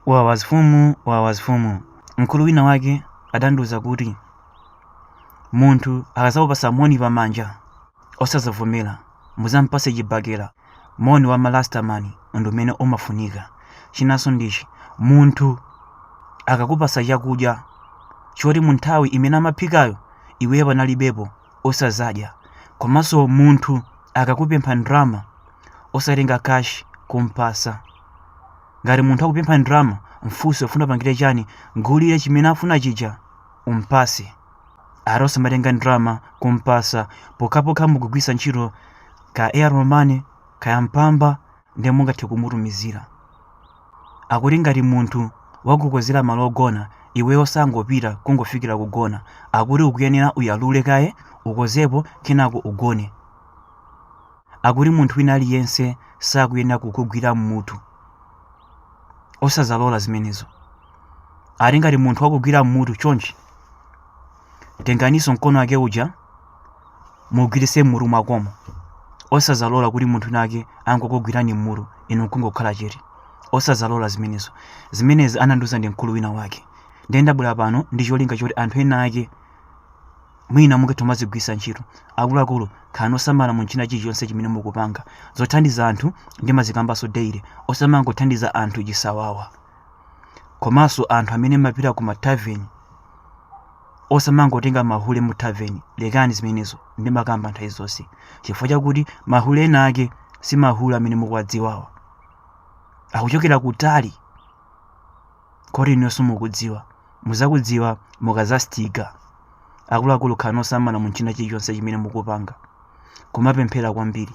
Wawa zifumu, wawa zifumu. Mkulu wina wake adandiuza kuti munthu akazakupasa moni pamanja osazavomera muzampase chibakera moni wa malasta mani ndi umene umafunika chinanso ndichi munthu akakupasa chakudya choti mu nthawi imene amaphikayo iweyo panalibepo osazadya komanso munthu akakupempha ndalama osatenga kashi kumpasa ngati munthu wakupempha ndalama mfunse ufuna kupangira chani mgulire chimene afuna chija umpase ati osamatenga ndalama kumpasa pokhapokha mukugwiritsa ntchito ka airtel mane kaya mpamba ndiye mungathe kumutumizira akuti ngati munthu wakukonzera malo ogona iwe osangopita kungofikira kugona akuti ukuyenera uyalule kaye ukonzepo kenako ugone akuti munthu wina aliyense sakuyenera kukugwira mmutu osazalola zimenezo ati ngati munthu wakugwira mmutu chonchi tenganiso mkono wake uja mugwirise mmutu mwakemo osazalola kuti munthu wina wake angokugwirani mmutu inu nkungokhala chete osazalola zimenezo zimenezi anandiuza ndi mkulu wina wake ndiye ndabwera pano ndi cholinga choti anthu ena ake mwina mungathe kumazigwiritsa ntchito akuluakulu khalani osamala mu china chilichonse chimene mukupanga zothandiza anthu ndimazikambanso daily osamangothandiza anthu chisawawa komanso anthu amene mumapita ku mataveni osamangotenga mahule mu taveni lekani zimenezo ndimakamba nthawi zonse chifukwa chakuti mahule ena ake si mahule amene mukuwadziwawa akuchokera kutali kodi inuyo simukudziwa muzakudziwa mukazastiga akuluakulu khalani osamala mu china chilichonse chimene mukupanga kumapemphera kwambiri